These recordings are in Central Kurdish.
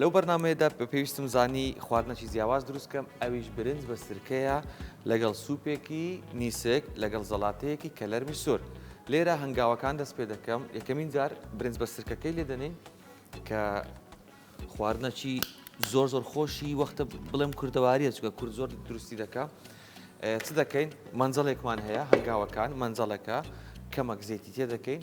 لەو بەرنامەیەدا پێویستم زانی خواردنەکی جیاواز دروست کەم ئەویش برنج بە سرکەیە لەگەڵ سوپێکی نیسک لەگەڵ زەڵاتەیەکی کەلەرمی سۆر لێرە هەنگاوەکان دەست پێ دەکەم یەکەمین جار برنج بە سرکەکەی لێ دەنین کە خواردنەکی زۆر زۆر خۆشی وەختە بڵێم کوردەواریە چکە کورد زۆر دروستی دەکە چ دەکەین مەنجەڵێکمان هەیە هەنگاوەکان مەنجەڵەکە کەمەک زێتی تێ دەکەین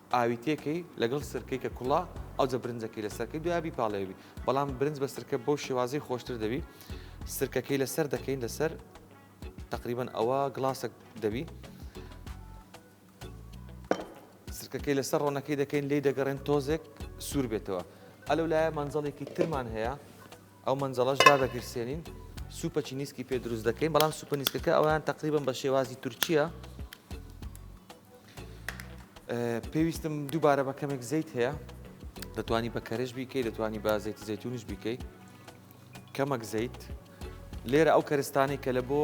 ئاوی تێکەی لەگەڵ سرکەی کە کوڵا ئەوجە برنجەکەی لەسەر کەی دوای بیپاڵێوی بەڵام برنج بە سرکە بەو شێوازی خۆشتر دەبی سرکەکەی لەسەر دەکەین لەسەر تقریبان ئەوە گڵاسەک دەبی سرکەکەی لەسەر ڕۆنەکەی دەکەین لی دەگەڕێن تۆزێک سوور بێتەوە ئەلو لایە مەنجەڵێکی ترمان هەیە ئەو مەنجەڵەش دادەگرسێنین سوپەچی نیسکی پێ دروست دەکەین بەڵام سوپە نیسکەکە ئەویان تقریبم بە شێوازی تورکیە پێویستم دووبارە بە کەمێک زەیت هەیە دەتوانی بە کەرش بیکەی دەتوانی بە زەیتی زەتونش بیکەی کەمەک زەیت لێرە ئەو کەرستانی کە لە بۆ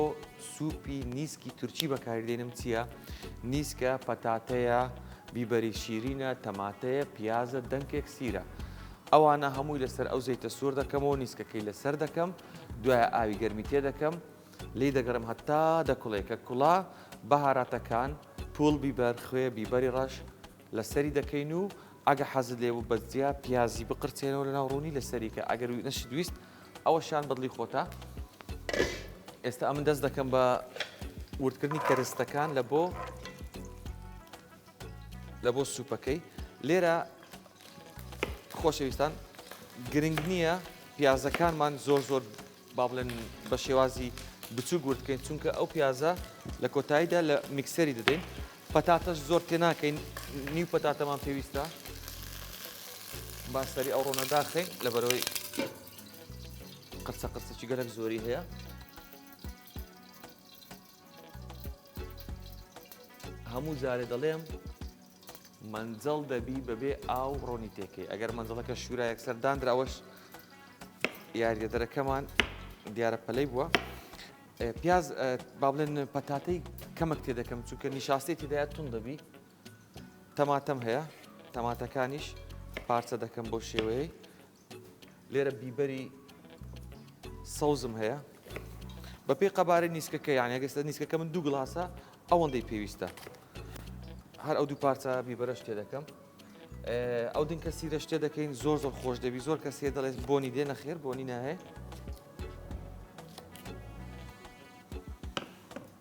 سوپی نیسکی تورکی بەکاردێنم چییە؟ نیسکە پەتاتەیە بیبەری شیرینە تەماتەیە پیازە دەنکێک سیرە. ئەوانە هەمووی لەسەر ئەو زەیتە سوور دەکەمەوە نیسکەکەی لەسەر دەکەم دوای ئاوی گەرمی تێ دەکەم لێی دەگەڕێم هەتا دەکوڵێ کە کوڵا بەهاراتەکان، پووڵ بیبەر، خوێ، بیبەری ڕەش، لەسەری دەکەین و ئەگە حەزت لێ بوو بە جیا پیازی بقرتێنەوە لەناو ڕوونی لەسەری کە ئەگەر نەشت ویست ئەوەشیان بەدڵی خۆتە ئێستا ئەمن دەست دەکەم بە وردکردنی کەرستەکان لە بۆ لە بۆ سوپەکەی لێرە خۆشەویستان گرنگ نییە پیازەکانمان زۆر زۆر با بڵێن بە شێوازی بچووک ورد کەین چونکە ئەو پیازە لە کۆتاییدا لە میکسەری دەدەین پەتاتەش زۆر تێ ناکەین نیو پەتاتەمان پێویستە باسەری ئەو ڕۆنە داخین لەبەرەوەی قرسە قرسەکی گەلک زۆری هەیە هەموو جارێ دەڵێم مەنجەڵ دەبی بەبێ ئاو ڕۆنی تێکەی ئەگەر مەنجڵەکە شوورا یەکسەر دانراوەش یاریدەدەرەکەمان دیارە پەلەی بووە پیاز با بڵێن پەتاتەی کەمەک تێ دەکەم چونکە نیشاستی تێدایە تون دەبی تەماتەم هەیە تەماتەکانیش پارچە دەکەم بۆ شێوەیە لێرە بیبەری سەوزم هەیە بە پێی قەبارەی نیسکەکە یان ئەگەستە نیسکەکە من دوو گڵاسە ئەوەندەی پێویستە هەر ئەو دوو پارچە بیبەرە شتێ دەکەم ئەو دن کە سیرە شتێ دەکەین زۆر زۆر خۆش دەبی زۆر کەسێ دەڵێت بۆنی دێ نەخێر بۆنی ناهەیە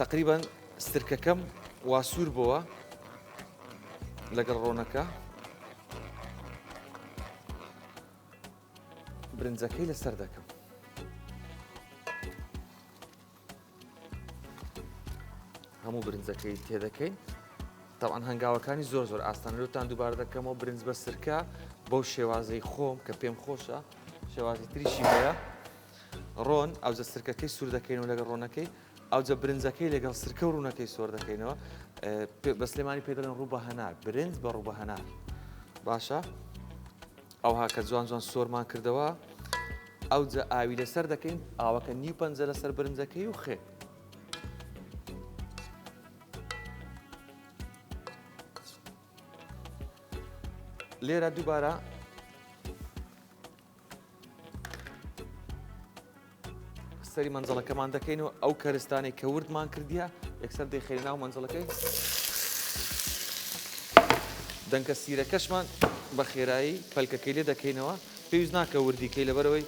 تەقریبەن سرکەکەم وا سوور بۆوە لەگەڵ ڕۆنەکە برنجەکەی لەسەر دەکەم هەموو برنجەکەی تێدەکەین تاوان هەنگاوەکانی زۆر زۆر ئاستانەوەتان دووبار دەکەمەوە برنج بە سرکە بەو شێوازەی خۆم کە پێم خۆشە شێوازی تریشی هەیە ڕۆن، ئاوجە سرکەکەی سور دەکەینەوە لەگەڵ ڕۆنەکەی، ئاوجە برنجەکەی لەگەڵ سرکە و ڕونەکەی سۆر دەکەینەوە، بە سلێمانی پێ دەڵێن ڕوبە هەنار، برنج بە ڕوبە هەنار، باشە ئەوها کە جوان جوان سۆرمان کردەوە، ئەوجە ئاوی لەسەر دەکەین، ئاوەکە نیو پەنجە لەسەر برنجەکەی و خێ. لێرە دووبارە سەری مەنجەڵەکەمان دەکەین و ئەو کەرستانەی کە وردمان کردیە یەکسەر دەیخێری ناو مەنجەڵەکەی دەنکە سیرەکەشمان بە خێرایی پەلکەکەی لێ دەکەینەوە پێویست ناکە وردیکەی لەبەرەوەی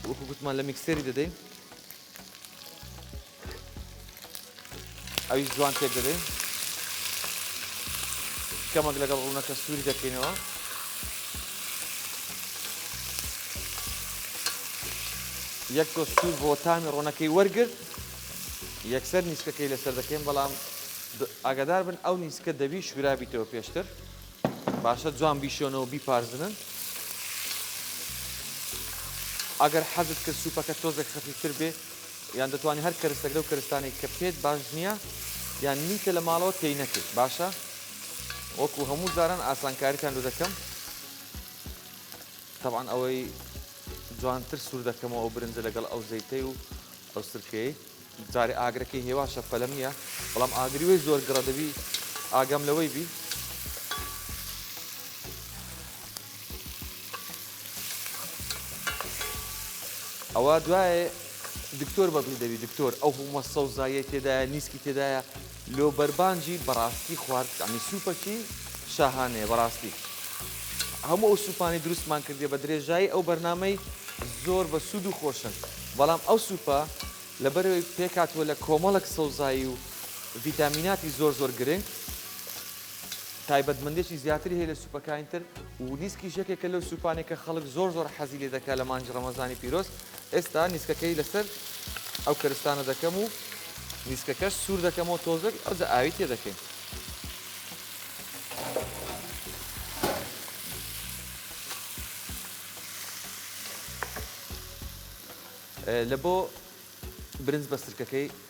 وەکوگوتمان لە میکسێری دەدەین ئەویش جوان تێک دەدەین کەمەک لەگەڵ ڕوونەکە سووری دەکەینەوە یەک تۆ سوور بۆ تامی ڕۆنەکەی وەرگرت یەکسەر نیسکەکەی لەسەر دەکەین بەڵام ئاگادار بن ئەو نیسکە دەبی شورابیتەوە پێشتر باشە جوان بیشۆنەوە بیپارزنن ئەگەر حەزت کرد سوپەکە تۆزێک خەفیفتر بێ یان دەتوانی هەر کەرستەک لەو کەرستانێک کە پێت باش نییە یان نیتە لە ماڵەوە تێی نەکەیت باشە وەکو هەموو جاران ئاسانکاریتان لە دەکەم تەوان ئەوەی جوانتر سوور دەکەمەوە ئەو برنجە لەگەڵ ئەو زەیتەی و ئەو سرکەی جارێ ئاگرەکەی هێواشە پەلەم نییە بەڵام ئاگری وی زۆر گڕە دەبی ئاگام لەوەی بی ئەوە دوایێ دکتۆر بەدڵی دەبی دکتۆر ئەو هەموە سەوزاییەی تێدایە نیسکی تێدایە لۆ بەربانجی بەڕاستی خوارد عنی سوپەکی شاهانەیە بەڕاستی هەموو ئەو سوپانی دروستمان کردێ بە درێژایی ئەو بەرنمەی زۆر بە سوود و خۆشن بەڵام ئەو سوپە لەبەرەوەی پێکاتوە لە کۆمەڵک سەوزایی و ڤیتامیناتی زۆر زۆر گرنگ تایبەتمەندێکی زیاتری هەیە لە سوپەکانی تر و نیسکیش یەکێکە لەو سوپانێک کە خەڵک زۆر زۆر حەزی لێ دەکات لە مانگی ڕەمەزانی پیرۆز ئێستا نیسکەکەی لەسەر ئەو کەرستانە دەکەم و نیسکەکەش سوور دەکەمەوە تۆزێک ئەوجە ئاوی تێ دەکەین لە بۆ برنج بە سرکەکەی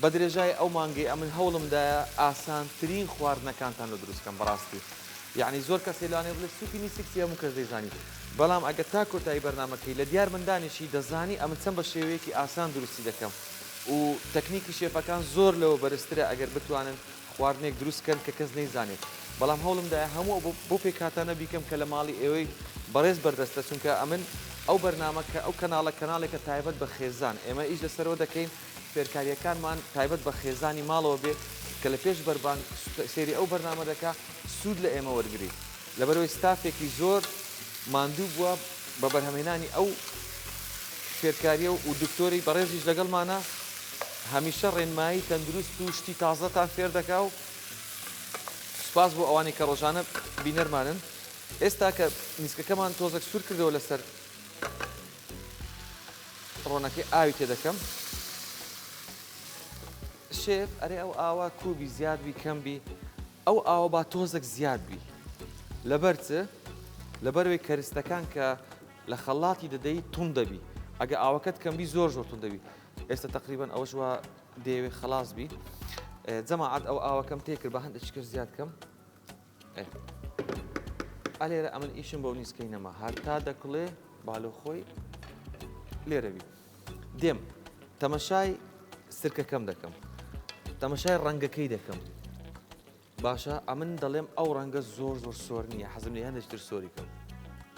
بە درێژای ئەو مانگەی ئەمن هەوڵم دایە ئاسانترین خواردنەکانتان لۆ دروست کەم بەڕاستی یەعنی زۆر کەسێ لەوانەیە بڵێ سوپی میسک چیە هەموو کەس دەیزانی بەڵام ئەگەر تا کۆتایی بەرنامەکەی لە دیار من دانیشی دەزانی ئەمن چەند بە شێوەیەکی ئاسان دروستی دەکەم و تەکنیکی شێفەکان زۆر لەوە بەرزترە ئەگەر بتوانن خواردنێک دروست کەن کە کەس نەیزانێت بەڵام هەوڵم دایە هەموو ئەو بۆ پێکهاتانە بیکەم کە لە ماڵی ئێوەی بەڕێز بەردەستە چونکە ئەمن ئەو بەرنامە کە ئەو کەناڵە کەناڵێکە تایبەت بە خێزان ئێمە ئیش لەسەرەوە دەکەین فێرکارییەکانمان تایبەت بە خێزانی ماڵەوە بێت کە لە پێش بەربانگ سێری ئەو بەرنامە دەکا سوود لە ئێمە وەرگریت لەبەرەوەی ستافێکی زۆر ماندوو بووە بە بەرهەمێنانی ئەو فێرکاریە و و دکتۆری بەڕێزیش لەگەڵمانە هەمیشە ڕێنمایی تەندروست و شتی تازەتان فێر دەکا و سپاس بۆ ئەوانی کە ڕۆژانە بینەرمانن ئێستا کە نیسکەکەمان تۆزەک سوور کردەوە لەسەر ڕۆنەکەی ئاوی تێ دەکەم. شێف ئەرێ ئەو ئاوا کوبی زیاد بی کەم بی ئەو ئاوە با تۆزێک زیاد بی لەبەر چ لەبەروەی کەرستەکان کە لە خەڵاتی دەدەی تون دەبی ئەگە ئاوەکەت کەمبی زۆر زۆر تون دەبی ئێستا تقریبان ئەوەش وە دەیەوێت خلاص بی جەماعات ئەو ئاوەکەم تێکرد بە هەندێک شکر زیاد کەم ئەلێرە ئەمن ئیشم بۆ نیسکەی نەما هەتا دەکڵێ بالۆ خۆی لێرەوی دێم تەمەشای سرکەکەم دەکەم تەمەشای ڕەنگەکەی دەکەم باشە ئەمن دەڵێم ئەو ڕەنگە زۆر زۆر سۆر نییە حەزم لە هەندێکتر سۆری کەم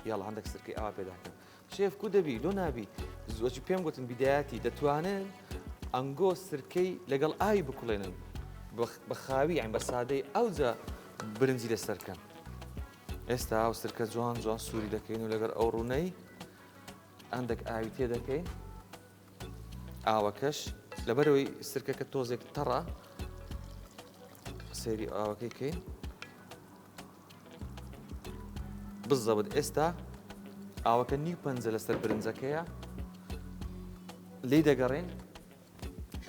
یاڵ هەندێک سرکەی ئاوا پێداکەم شێف کو دەبی لۆ نابی زۆچی پێم گوتن بیدایەتی دەتوانن ئەنگۆ سرکەی لەگەڵ ئاوی بکوڵێنن بە خاوی ئەم بە سادەی ئەوجا برنجی لەسەرکەن ئێستا ئەو سرکە جوان جوان سووری دەکەین و لەگەر ئەو ڕوونەی ئەندێک ئاوی تێ دەکەین ئاوەکەش لەبەرەوەی سرکەکە تۆزێک تەڕە سەیری ئاوەکەی کەین بزەبت ئێستا ئاوەکە نیو پەنجە لەسەر برنجەکەیە لی دەگەڕێن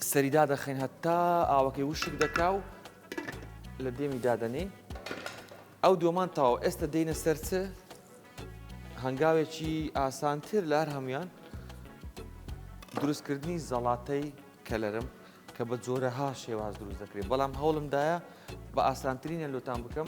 سەریدا دەخەین هەتا ئاوەکەی وشک دەکا و لە دێمی دادەنین ئەو دۆمان تاو ئێستا دێنە سەرچە هەنگاوێکی ئاسانتر لە هەر هەموویان دروستکردنی زەڵاتەی کەلەرم کە بە جۆرەها شێواز دروست دەکرێت بەڵام هەوڵمدایە بە ئاسانترینە لۆتان بکەم.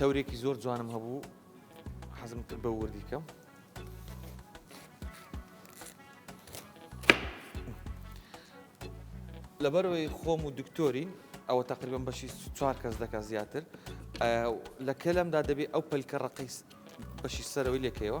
تەورێکی زۆر جوانم هەبوو حەزم کرد بە وردی کەم لەبەرەوەی خۆم و دکتۆرین ئەوە تقریبم بەشی چوار کەس دەکە زیاتر لە کەلمدا دەبێت ئەو پلکە ڕقی بەشی سەرەوەی لەکەوە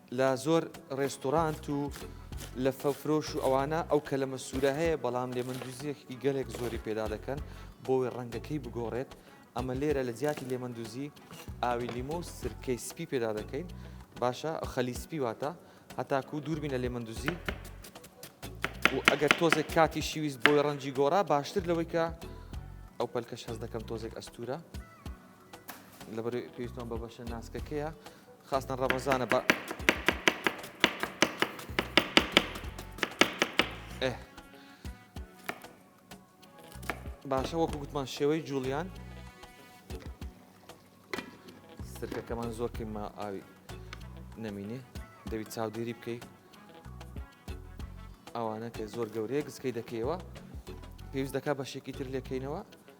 لە زۆر ڕێستۆرانت و لە فە فرۆش و ئەوانە ئەو کەلەمە سوورە هەیە بەڵام لێ مندوزیەکی گەلێک زۆری پێدا دەکەن بۆی ڕەنگەکەی بگۆڕێت ئەمە لێرە لە جیاتی لێ مندوزی ئاوی لیمۆ و سرکەی سپی پێدا دەکەین باشە خەلی سپی واتە هەتاکو و دووربینە لێ مندوزی و ئەگەر تۆزێک کاتی شیویست بۆی ڕەنجی گۆڕا باشتر لەوەی کە ئەو پەلکەش هەز دەکەم تۆزێک ئەستورە لەبەرەی پێویستمان بە بەشە ناسکەکەیە خاستن ڕەمەزانە بە باشە وەکو گوتمان شێوەی جوڵیان سرکەکەمان زۆر کەمە ئاوی نەمینێ دەوی چاودێری بکەی ئەوانە کە زۆر گەورەیە گسکەی دەکەیەوە پێویست دەکا بەشێکی تر لێکەینەوە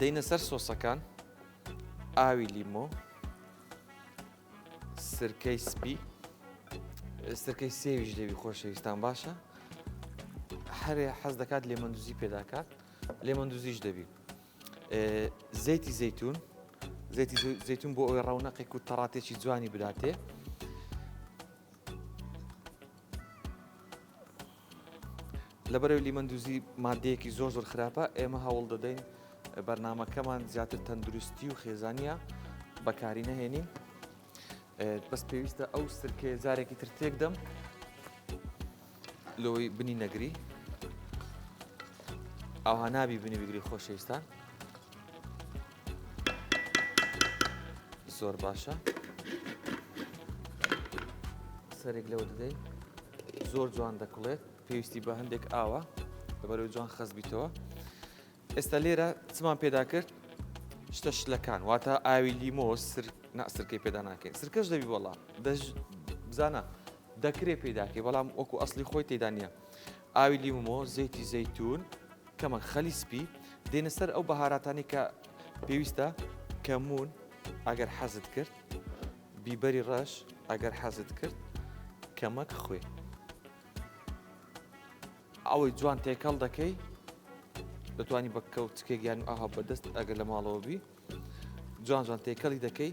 دەینە سەر سۆسەکان ئاوی لیمۆ سرکەی سپی سرکەی سێویش لێوی خۆشەویستان باشە هەرێ حەز دەکات لێمەندوزی پێداکات لێمەندوزیش دەبی زەیتی زەیتون زەیتی زەیتون بۆ ئەوی ڕەونەقێک و تەڕاتێکی جوانی بداتێ لەبەرئەوەی لیمەن دوزی ماددەیەکی زۆر زۆر خراپە ئێمە هەوڵ دەدەین بەرنمەکەمان زیاتر تەندروستی و خێزانە بەکاری نەهێنین بەس پێویستە ئەو سرکەیە جارێکی تر تێکدەم لۆی بنی نەگری ئەوها نابی بنی بگری خۆشەویستان زۆر باشە سەرێک لەوە دەدەی زۆر جوان دەکڵێت پێویستی بە هەندێک ئاوە لەبەرەوەی جوان خەزبیتەوە ئێستا لێرە چمان پێدا کرد شتە شلەکان واتە ئاوی لیمۆ سرکەی پێدا ناکەین سرکەش دەبی بەڵام بزانە دەکرێ پێداکەی بەڵام وەکو ئەسلی خۆی تێدا نییە ئاوی لیمۆ، زەیتی زەیتون، کەمەک خەلی سپی، دێنە سەر ئەو بەهاراتانەی کە پێویستە، کەمون ئەگەر حەزت کرد، بیبەری ڕەش ئەگەر حەزت کرد، کەمەک خوێ. ئەوەی جوان تێکەڵ دەکەی، دەتوانی بە کەوچکێک یان ئاها بەدەست ئەگەر لە ماڵەوە بی، جوان جوان تێکەڵی دەکەی،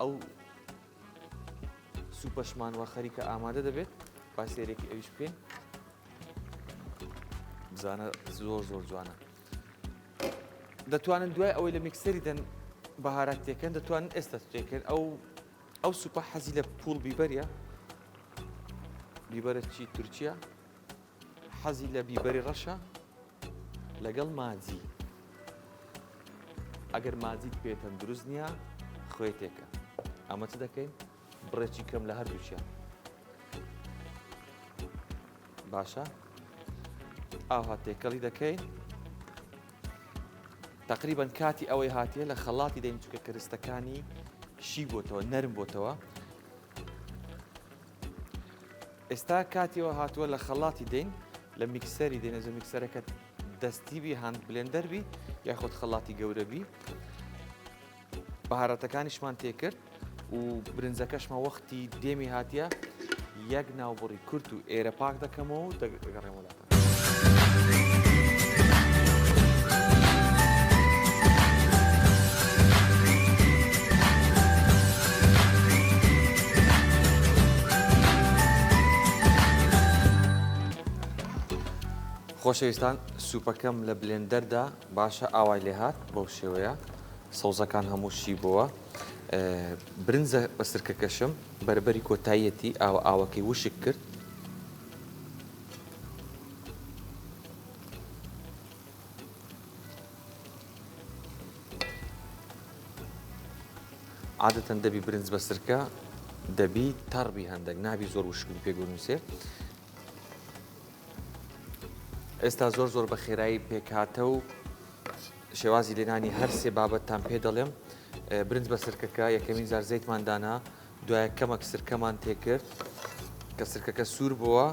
ئەو سوپەشمان وە خەریکە ئامادە دەبێت با سێرێکی ئەویش بکەین بزانە زۆر زۆر جوانە دەتوانن دوای ئەوەی لە میکسەری دەن بەهارات تێکەن دەتوانن ئێستا تێکەن ئەو ئەو سوپە حەزی لە پوڵ بیبەریە بیبەرە چی تورکیا حەزی لە بیبەری ڕەشە لەگەڵ ماجی ئەگەر ماجیت پێ تەندروست نییە خوێ تێکە ئەمە چ دەکەین بڕێکی کەم لە هەردووچیان باشە ئاها تێکەڵی دەکەین تقریبان کاتی ئەوەی هاتیە لە خەڵاتی دەین چکە کرستەکانی شی بۆتەوە نەرم بۆتەوە ئێستا کاتی ئەوە هاتووە لە خەڵاتی دێین لە میکسەری دێنە زۆ میکسەرەکە دەستی بی هاند بلێندەر بی یاخود خەڵاتی گەورە بی بەهارەتەکانیشمان تێکرد و برنجەکەشمە وەختی دێمی هاتیە یەک ناوبڕی کورت و ئێرە پاک دەکەمەوە دەگەڕێمەوە خۆشەویستان سوپەکەم لە بلێندەردا باشە ئاوای لێ هاات بەو شێوەیە سەوزەکان هەمووشی بووە برنجە بە سرکەکەشم بەربەری کۆتاییەتی ئاوە ئاوەکەی وشک کرد عادەتەن دەبی برنج بە سرکە دەبی تەڕبی هەندێک نابی زۆر وشکبی پێ گونووسێ ئێستا زۆر زۆر بە خێرایی پێکاتە و شێوازی لێنانی هەر سێ بابەتتان پێ دەڵێم برنج بە سرکەکە یەکەمین زار زەیتماندانا دوای کەمەک سرکەمان تێکرد کە سرکەکە سوور بووە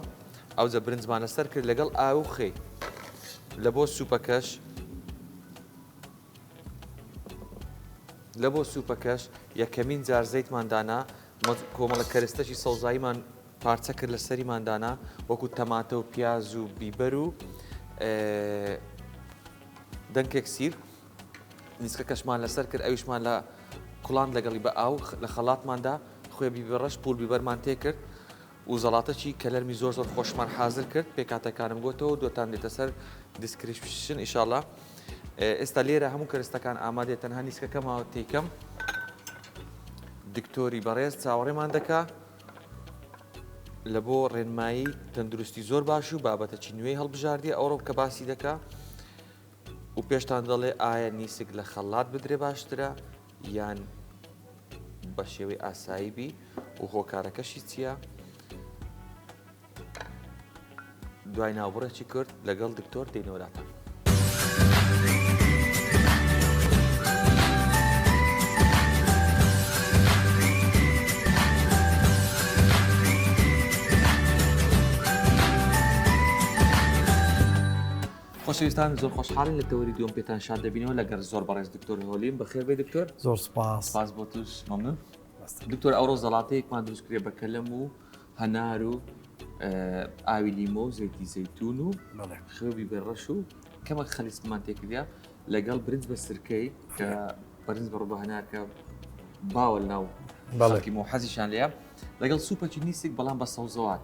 ئەوجە برنجمان لەسەر کرد لەگەڵ ئاوخی لە بۆ سوپەکەش لە بۆ سوپەکەش یەکەمین جار زەیتماندانا کۆمەڵە کەرستەشی سەوزاییمان پارچە کرد لە سەریماندانا وەکو تەماتە و پیاز و بیبەر و دەنکێک سیر نیسکەکەشمان لەسەر کرد، ئەویشمان لە کوڵاند لەگەڵی بە ئاو لە خەڵاتمان دا، خوێ بیبی ڕەش پوور بیبەرمان تێ کرد و زەڵاتەکی کەلەرمی زۆر زۆر خۆشمان حازر کرد، پێکهاتەکانم گۆتەوەو دوتان دێتە سەر دیسکریپشن ئیشاڵا. ئێستا لێرە هەموو کەرستەکان ئامادەیە تەنها نیسکەکە ماوە تێی کەم. دکتۆری بەڕێز چاوەڕێمان دەکا لە بۆ ڕێنمایی تەندروستی زۆر باش و بابەتەکی نوێی هەڵبژاردیە ئەوڕۆ کە باسی دەکا و پێشتان دەڵێ ئایا نیسک لە خەڵات بدرێ باشترە یان بە شێوەی ئاسایی بی و هۆکارەکەشی چییە؟ دوای ناوبڕێکی کرد لەگەڵ دکتۆر دێنەوەلاتان. خۆشەویستان زۆر خۆشحاڵین لە تەوەری دووەم پێتان شاد دەبینەوە لەگەر زۆر بەڕێز دکتۆر هۆلیم بەخێر بێی دکتۆر. زۆر سوپاس. سوپاس بۆ توش مەمنون. دکتۆر ئەوڕۆ زەڵاتەیەکمان دروست کردە بە کەلەم و هەنار و ئاوی لیمۆ و زەیتی زەیتون و خوێ و بیبەر ڕەش و کەمەک خەلیسکمان تێ کردە لەگەڵ برنج بە سرکەی کە بەرنج بڕ بە هەنار کە باوە لەناو خەڵکی مۆ حەزیشان لێیە لەگەڵ سوپەکی نیسک بەڵام بە سەوزەوات.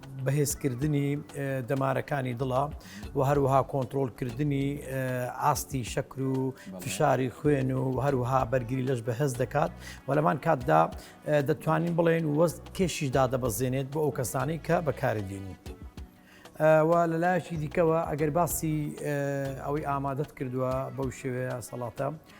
بەهێزکردنی دەمارەکانی دڵە و هەروەها کۆنتترۆلکردنی ئاستی شەکر و فشاری خوێن و هەروها بەرگری لەش بەهێز دەکات و لەمان کاتدا دەتوانین بڵێن وەست کێشیش دادەبەزێنێت بۆ ئەو کەسانی کە بەکاری دێنی. و لە لایەکی دیکەوە ئەگەر باسی ئەوەی ئامادەت کردووە بەو شێوەیە سەڵاتە.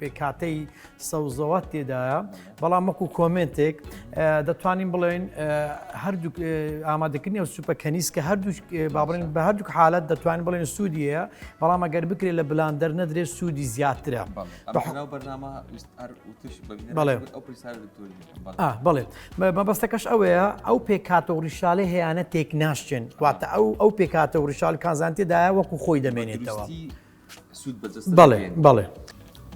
پێکهاتەی سەوزەوات تێدایە بەڵام وەکو کۆمنتێک دەتوانین بڵێن هەردوو ئامادەکردنی ئەو سوپە کەنیس کە هەردوو بابرین بە هەردوو حالت دەتوانین بڵێن سوودیە بەڵام ئەگەر بکرێت لە بلان دەرنە درێت سوودی زیاترە بڵێت مەبەستەکەش ئەوەیە ئەو پێکاتە و ڕیشالە هەیەە تێک ناشچێن واتە ئەو ئەو پێکاتە و ڕیشال کازانتێدایە وەکو خۆی دەمێنێتەوە. سوود بە جەستە بەڵێ دەگەیەنێت. بەڵێ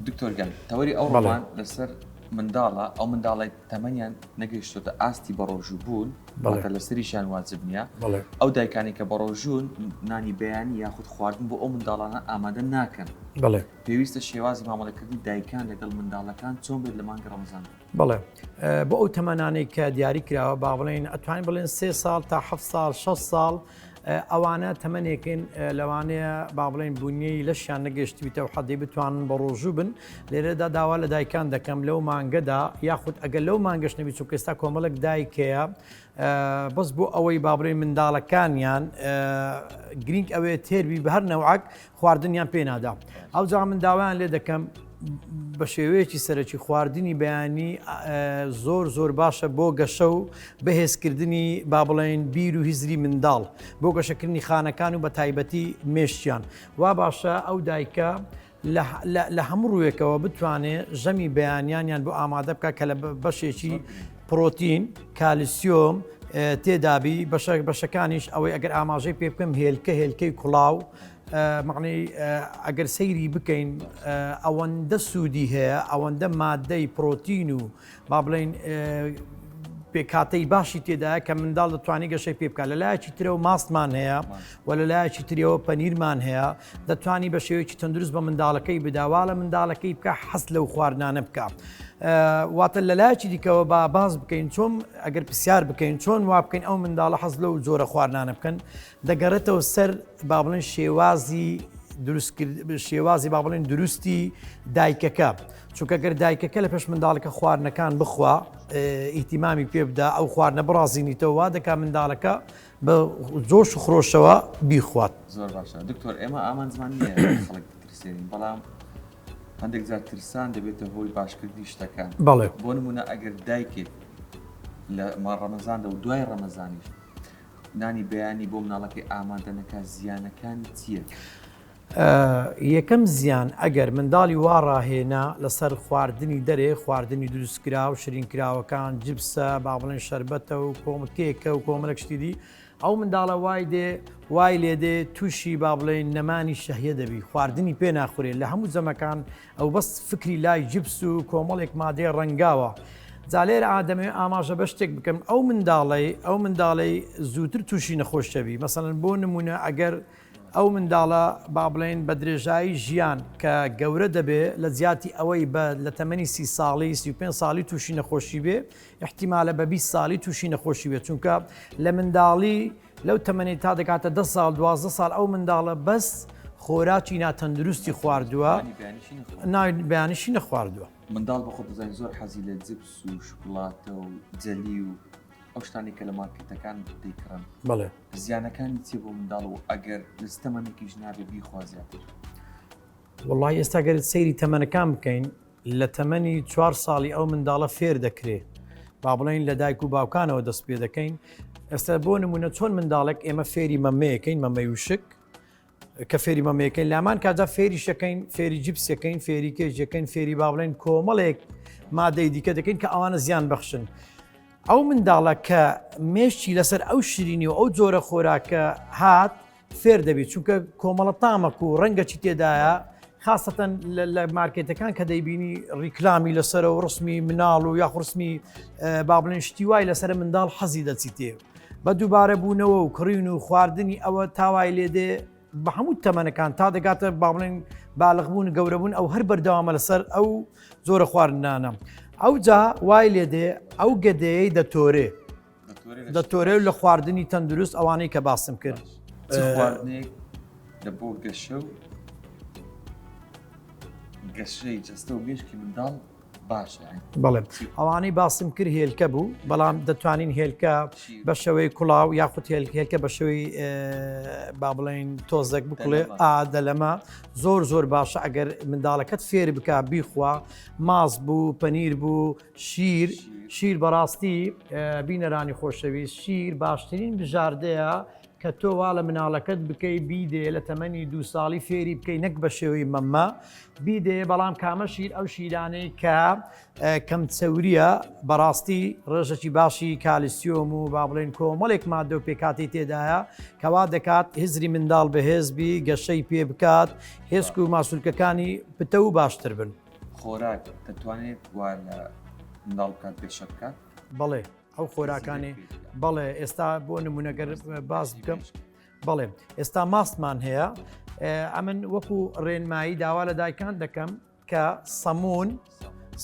دکتۆر گیان تەوەری ئەو بەڵێ. ڕۆمان لەسەر منداڵە ئەو منداڵەی تەمەنیان نەگەیشتۆتە ئاستی بەڕۆژوو بوون بەڵێ. واتە لەسەریشیان واجب نییە بەڵێ. ئەو دایکانەی کە بەڕۆژوون نانی بەیانی یاخود خواردن بۆ ئەو منداڵانە ئامادە ناکەن بەڵێ. پێویستە شێوازی مامەڵەکردنی دایکان لەگەڵ منداڵەکان چۆن بێت لە مانگی ڕەمەزاندا؟ بەڵێ بۆ ئەو تەمەنانەی کە دیاری کراوە با بڵێن ئەتوانین بڵێن سێ ساڵ تا ه ساڵ 6 ساڵ ئەوانە تەمەنێکن لەوانەیە با بڵێن بوونیەی لەشیان نەگەشتویتە و حەدی بتوانن بە ڕۆژوو بن لێرەدا داوا لە دایکان دەکەم لەو مانگەدا یاخود ئەگەر لەو مانگەش نەبی چون کەستا کۆمەڵک دایکەیە بەس بۆ ئەوەی بابرێن منداڵەکانیان گرنگ ئەوێ تێربی بە هەر نەوعک خواردنیان پێ نادا ئەوجا من داوایان لێ دەکەم بە شێوەیەکی سەرەکی خواردنی بەیانی زۆر زۆر باشە بۆ گەشە و بەهێزکردنی با بڵێن بیر و هزری منداڵ بۆ گەشەکردنی خانەکان و بە تایبەتی مێشتیان وا باشە ئەو دایکە لە هەموو ڕووێکەوە بتوانێ ژەمی بەیانیانیان بۆ ئامادە بکە کە لە بەشێکی پرۆتین کالیسیۆم تێدابی بەشەکانیش ئەوەی ئەگەر ئاماژەی پێ بکەم هێلکە هێلکەی کوڵاو مەعنەی ئەگەر سەیری بکەین ئەوەندە سوودی هەیە ئەوەندە مادەی پرۆتین و با بڵێین پێکاتەی باشی تێدایە کە منداڵ دەتوانانی گەشەی پێ بکە لە لایەکی ترەوە ماستمان هەیە و لە لایەکی تریەوە پەنیرمان هەیە دەتوانی بە شێوەیەکی تەندروست بە منداڵەکەی بداوا لە منداڵەکەی بکە حەست لەو خواردنانە بکە. واتە لە لایەکی دیکەوە با باز بکەین چۆم ئەگەر پرسیار بکەین چۆن وا بکەین ئەو منداڵە حەز لەو زۆرە خواردنانە بکەن دەگەڕێتەوە سەر با بڵێن شێوازی شێوازی با بڵێن دروستی دایکەکە چونکە گەر دایکەکە لە پێش منداڵەکە خواردنەکان بخوا ئیتیمامی پێ بدا ئەو خواردنە بڕازینیتەوە دەکا منداڵەکە بە زۆش و خرۆشەوە بیخوات زۆر باشە دکتۆر ئێمە ئامانجمان خەڵک ترسێنین بەڵام هەندێک جار ترسان دەبێتە هۆی باشکردنی شتەکان بەڵێ بۆ نمونە ئەگەر دایکێک لە ما ڕەمەزاندا و دوای ڕەمەزانیش نانی بەیانی بۆ مناڵەکەی ئامادە نەکات زیانەکانی چییە؟ یەکەم زیان ئەگەر منداڵی وا ڕاهێنا لەسەر خواردنی دەرێ خواردنی دروستکراو شرین کراوەکان جبسە با بڵێن شربەتە و کۆمە کێکە و کۆمەلک شتی دی ئەو منداڵە وای دێ وای لێ دێ تووشی با بڵێن نەمانی شەهیە دەبی خواردنی پێ ناخورێت لە هەموو جەمەکان ئەو بەس فکری لای جبس و کۆمەڵێک مادەی ڕەنگاوە. جا لێرە دەمەوێت ئاماژە بە شتێک بکەم، ئەو منداڵەی ئەو منداڵەی زووتر تووشی نەخۆش دەبی مەسەن بۆ نمونە ئەگەر ئەو منداڵە با بڵێن بە درێژایی ژیان کە گەورە دەبێ لە جیاتی ئەوەی بە لە تەمەنی سی ساڵی سی و پێنج ساڵی تووشی نەخۆشی بێ احتیمالە بە بیست ساڵی تووشی نەخۆشی بێ چونکە لە منداڵی لەو تەمەنەی تا دەگاتە دە ساڵ دوازدە ساڵ ئەو منداڵە بەس خۆراکی ناتەندروستی خواردووە بەیانشی نەخواردووە منداڵ بە خۆ بزانین زۆر حەزی لە جپس و شکلاتە و جەلی و ئەو شتانی کە لە مارکتەکان دەیکڕن بڵێ زیانەکانی چێ بۆ منداڵ و ئەگەر لەستەمەێکیش نابێ بیخوازیاتر وڵی ئێستا گەرت سەیری تەمەنەکان بکەین لە تەمەنی چوار ساڵی ئەو منداڵە فێر دەکرێ با بڵێین لە دایک و باوکانەوە دەست پێ دەکەین ئێستا بۆ نمونە چۆن منداڵێک ئێمە فێری مەمەیەکەین مەمەی وشک کە فێری مەمەکەین لامان کادا فێری شەکەین فێری جیپسەکەین فێری کێژەکەین فێری با بڵێن کۆمەڵێک مادەی دیکە دەکەین کە ئەوانە زیان بەخشن ئەو منداڵە کە مێشتی لەسەر ئەو شیرینی و ئەو جۆرە خۆراکە هات فێر دەبیت چونکە کۆمەڵە تامەک و ڕەنگەچی تێدایە خاستەن لە مارکێتەکان کە دەیبینی ڕیکلامی لەسەر و ڕسمی مناڵ و یاخڕسمی بابلین شتی وای لەسەر منداڵ حەزی دەچیتێ بە دووبارە بوونەوە و کڕین و خواردنی ئەوە تاوای لێدێ بە هەموو تەمەنەکان تا دەگاتە باڵێن باڵغبوون گەورەبوون ئەو هەر بەردەوامە لەسەر ئەو زۆرە خواردنانە ئەو جا وای لێدێ ئەو گەدەیەی دەتۆرێ دەتۆرێت لە خواردنی تەندروست ئەوانەی کە باسم کرد خواردنێک لە بۆ گەشە و گەشەی جستە و مێشکی منداڵ باشە بەڵێم ئەوانەی باسم کرد هێلکە بوو بەڵام دەتوانین هێلکە بە شەوەی کوڵاو یاخود هێلکە بە شەوەی با بڵێن تۆزەک بکڵێ ئادە لەمە زۆر زۆر باشە ئەگەر منداڵەکەت فێر بک بیخوا ماس بوو پەنیر بوو شیر شیر بەڕاستی بینەرانی خۆشەویست شیر باشترین بژاردەیە کە تۆ وا لە مناڵەکەت بکەی بیدێ لە تەمەنی دوو ساڵی فێری بکەی نەک بە شێوەی مەمە بیدێ بەڵام کامە شیر ئەو شیرانەی کە کەم چەوریە بەڕاستی ڕێژەکی باشی کالیسیۆم و با بڵێن کۆمەڵێک مادە و پێکاتی تێدایە کەوا دەکات هزری منداڵ بەهێزبی گەشەی پێ بکات هێسک و ماسولکەکانی پتە و باشتر بن. خۆراک دەتوانێت وا لە منداڵ بکات گەشە بکات؟ بەڵێ ئەو خۆراکانی بەڵێ ئێستا بۆ نمونەگەر باز بکەم بەڵێ ئێستا ماستمان هەیە ئەمن وەکو ڕێنمایی داوا لە دایکان دەکەم کە سەمون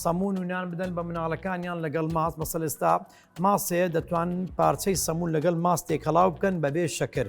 سەمون و نان بدەن بە مناڵەکانیان لەگەڵ ماست بە سەلستا ماسێ دەتوان پارچەی سەمون لەگەڵ ماستێک هەڵاو بکەن بەبێ شەکر.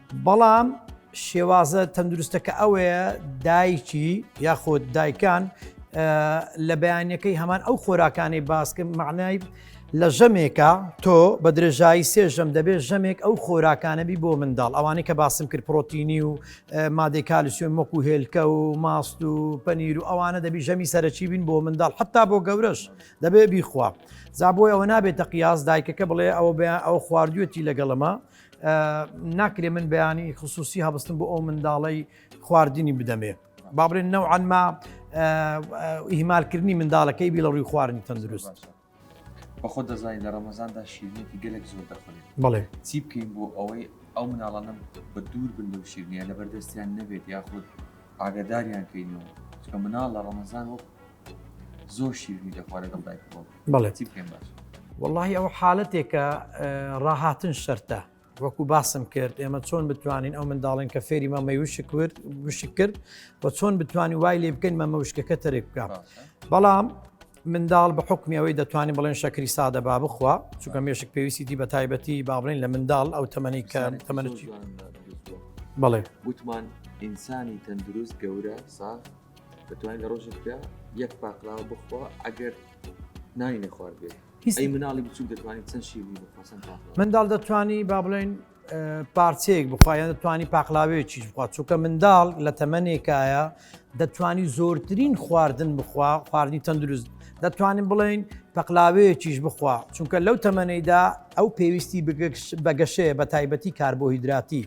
بەڵام شێوازە تەندروستەکە ئەوەیە دایکی یاخود دایکان لە بەیانەکەی هەمان ئەو خۆراکانەی باسکە معنای لە ژەمێکە تۆ بە درێژایی سێژەم دەبێت ژەمێک ئەو خۆراکانەبی بۆ منداڵ ئەوانەی کە باسم کرد پرۆتینی و مادەی کالیسیۆن مەک و هێلکە و ماست و پەنیر و ئەوانە دەبی ژەمی سەرەکی بین بۆ منداڵ حتا بۆ گەورەش دەبێ بیخوا زابۆی ئەوە نابێتە قیاس دایکەکە بڵێ ئەوە بە ئەو خواردوێتی لەگەڵەمە ناکرێ من بەیانی خصوصی هەبستن بۆ ئەو منداڵەی خواردنی بدەمێ بابرێن نەوعانما ئیهمالکردنی منداڵەکەی بی لە ڕووی خواردنی تەندروست بەخۆ دەزانین لە ڕەمەزاندا شیرنێتی گەلێک زۆر دەخورێت بڵێ چی بکەین بۆ ئەوەی ئەو مناڵانم بە دوور بن لەو شیرنیە لە بەردەستیان نەبێت یاخود ئاگداریان کەینەوە چکە مناڵ لە ڕەمەزان وەک زۆر شیرنی دەخوا لەگەڵ دایک بۆ بەڵێ چی بکەین باش واللهی ئەو حالەتێکە ڕاهاتن شەرتە وەکو باسم کرد ئێمە چۆن بتوانین ئەو منداڵین کە فێری مەمە وشک کرد وشک کرد و چۆن بتوانانی وای لێ بکەین مەمە وشکەکە تەرێک بکە بەڵام منداڵ بە حکمی ئەوەی دەتوانین بڵێن شەکری سادە با بخوا چونکە مێشک پێویستی دی بە تایبەتی بابلین لە منداڵ ئەو تەمەنی کە تەمەنی بڵێ وتمان ئینسانی تەندروست گەورە ساخ دەتوانین لە ڕۆژێکدا یەک پاقلاوە بخوا ئەگەر نانی نەخوارد بێت هیچی مناڵی بچوک دەتوانین چەند شیری بخواسن منداڵ دەتوانی با بڵێن پارچەیەک بخوایان دەتوانی پاقلاوێکیش بخوا چووکە منداڵ لە تەمەنێکایە دەتوانی زۆرترین خواردن بخوا خواردنی تەندروست دەتوانین بڵێین پەقلاوەیەکیش بخوا چونکە لەو تەمەەیدا ئەو پێویستی بەگەشەیە بە تایبەتی کاربۆهیدراتی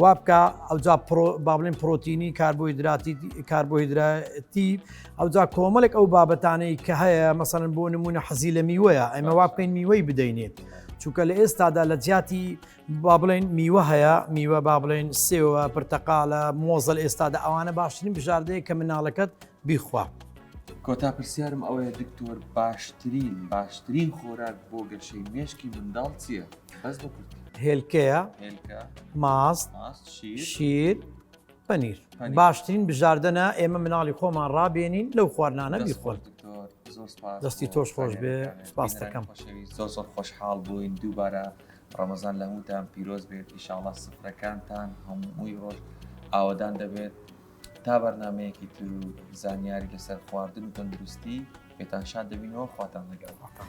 وا بکە ئەوجا بابلین پرۆتینی کاربۆهیدراتی کاربۆهیدراتی ئەوجا کۆمەڵێک ئەو بابەتانەی کە هەیە مەسەن بۆ نمونە حەزی لە میوەیە ئەمە وا بکەین میوەی بدەینێت چونکە لە ئێستادا لە جیاتی با بڵێن میوە هەیە میوە با بڵێن سێوە پرتەقالە مۆزەل ئێستادا ئەوانە باشترین بژاردەیە کە مناڵەکەت بیخوا. کۆتا پرسیارم ئەوەیە دکتۆر باشترین باشترین خۆراک بۆ گەشەی مێشکی منداڵ چییە؟ بەس بە کورتی. هێلکەیە هێلکە ماست ماست شیر شیر پەنیر پەنیر. باشترین بژاردەنە ئێمە مناڵی خۆمان ڕابێنین لەو خواردنانە دەست خۆش بیخۆن دکتۆر زۆر سپاس دەستی بۆ تۆش خۆش بێ، زانیاریەکانت. سپاس بینەران دەکەم. خۆشەویست، زۆر زۆر خۆشحاڵ بووین دووبارە ڕەمەزان لە هەمووتان پیرۆز بێت ئیشاڵا سفرەکانتان هەمووی ڕۆژ ئاوەدان دەبێت تا بەرنمەیەکی تر و زانیاری لەسەر خواردن و تەندروستی پێتان شاد دەبینەوە خواتان لەگەڵ خواتان.